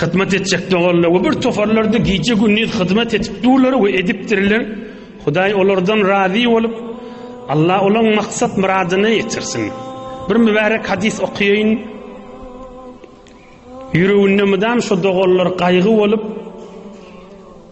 Hyzmat etjek doganlar we bir toparlarda gije gündiz hyzmat edip durlar we edipdirler. Hudaý olardan razy bolup, Allah olaň maksat myradyna ýetirsin. Bir mübärek hadys okaýyn. Ýüreginde mydam şu doganlar gaýgy bolup,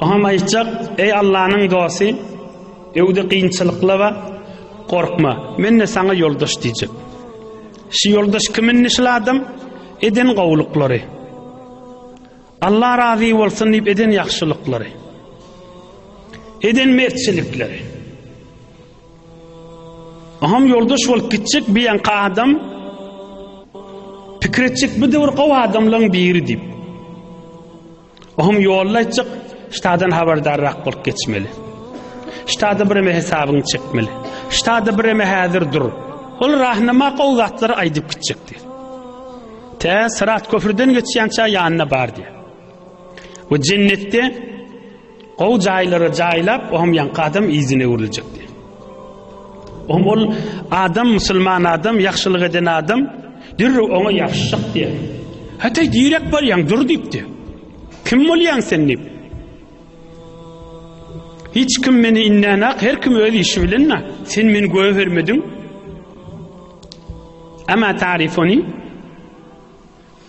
Oňam aýtjak, Eý Allanyň dosty, öwdi kynçylyklaba gorkma, men-de saňa ýoldaş diýjek. Şu ýoldaş kim indi şul adam? Eden gowulyklary. Allah razy bolsun diýip eden ýagşylyklary. Eden mertçilikleri. Aham yoldaş bolup gitjek bir yankı adam pikir etjek bir döwür gowy adamlaryň biri diýip. Aham yolda etjek ştadan habardarrak bolup geçmeli. Ştada bir eme hesabını çekmeli. Ştada bir eme hazır dur. Ol rahnama gowy zatlar aýdyp gitjek diýip. Tä sırat köprüden geçýänçä ýanyna bar diýip. Bu jennetde Gowy jaýlara jaýlap ohm ýaňky adam yzyna öwrüljekdi. Ohm ol adam musulman adam ýagşylyk eden adam dürri oňa ýapyşjak diýen. Hataý direk barýaň dur diýipdi. Kim bolýaň sen diýip. Hiç kim meni innenak her kim öz işi bilen na. Sen meni göwe bermediň. Ama tarifoni.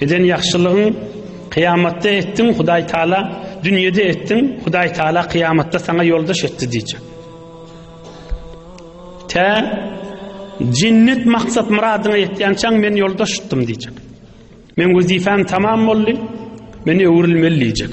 Eden ýagşylygyň kyýamatda etdiň Hudaý Taala dünýede etdiň Hudaý Taala kyýamatda saňa ýoldaş etdi diýjek. Tä jennet maksat myradyňa ýetýänçäň men ýoldaş tutdum diýjek. Men wezipem tamam boldy. Men öwrülmeli diýjek.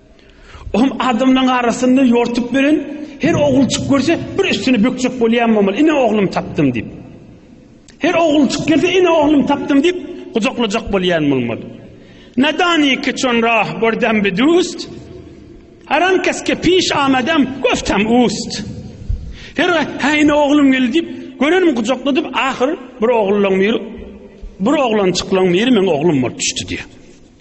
Ohm adamlaryň arasynda ýortup beren her ogulçyk görse bir üstüni bökjek bolýan bolmaly. Ine oglum tapdym diýip. Her ogulçyk gelse ine oglum tapdym diýip gujaklajak bolýan bolmaly. Nadani ki çon rah gördem bi dust. Haram kes ke piş amadam göftem ust. Her ha ine oglum geldi diýip görenim gujakladyp ahyr bir ogluň bir bir oglançyklyň biri meň oglum bolup düşdi diýip.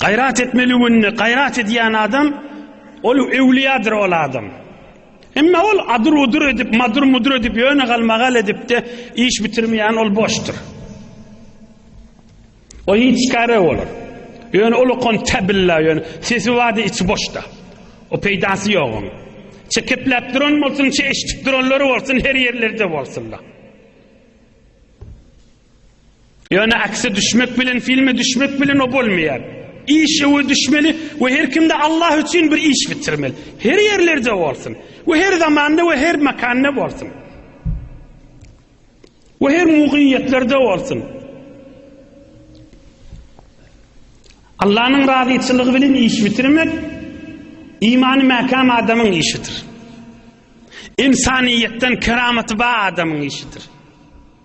Gaýrat etmeli günde gaýrat edýän adam ol öwliýadyr ol adam. Emma ol adyr-udyr edip, madyr-mudyr edip, ýöne galmagal edip-de iş bitirmeýän ol boşdur. O hiç kare bolar. Ýöne ol okan tabilla ýöne sesi wady içi boşda. O peýdasy ýok onuň. Çekepläp duran bolsun, çe eşitip duranlary bolsun, her ýerlerde bolsunlar. Ýöne akse düşmek bilen filme düşmek bilen o bolmaýar. Iş öwe düşmeli we her kimde Allah üçin bir iş bitirmeli. Her ýerlerde bolsun we her zamanda we her makanda bolsun. We her mugyýetlerde bolsun. Allah'ın razıçılığı bilen iş bitirmek imanı mekan adamın işidir. İnsaniyetten keramatı ba adamın işidir.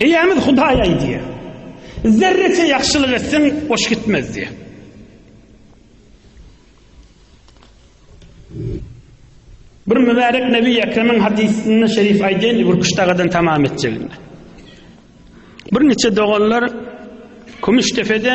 Eýämiz Hudaý aýdýar, Zerreçe ýagşylyk etseň, boş gitmez diýýär. Bir mübärek Nebi Ekremiň hadysynda şerif aýdýan Gürküş dagadan tamam etjeginde. Bir niçe doganlar Kümüşdepede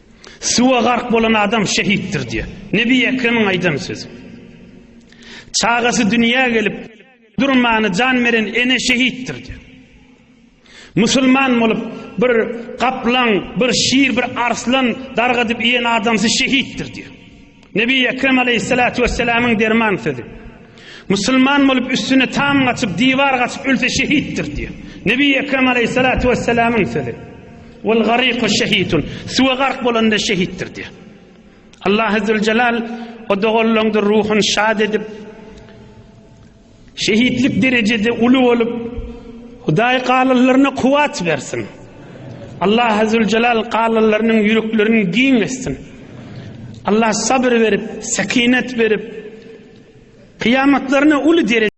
Suwa gark bolan adam şehitdir diýýär. Nebi Ekremiň aýdan sözi. Çagasy dünýä gelip durmany jan beren ene şehitdir diýýär. Musulman bolup bir gaplaň, bir şir, bir arslan dargadyp iýen adamsy şehitdir diýýär. Nebi Ekrem aleýhissalatu wessalamyň derman sözi. Musulman bolup üstüne tam gaçyp, diwar gaçyp ölse şehitdir diýýär. Nebi Ekrem aleýhissalatu wessalamyň sözi. Wal gariku şehitun. Suwa gark bolanda şehitdir diýýär. Allah Azzezelal o doganlaryňdyr ruhuny şad edip, Şehitlik derejesi uly bolup Hudaý galyllaryna kuwat bersin. Allah Azzewejelal galyllarynyň ýüreklerini giň etsin. Allah sabr berip, sekinet berip, kyýamatlaryna uly dereje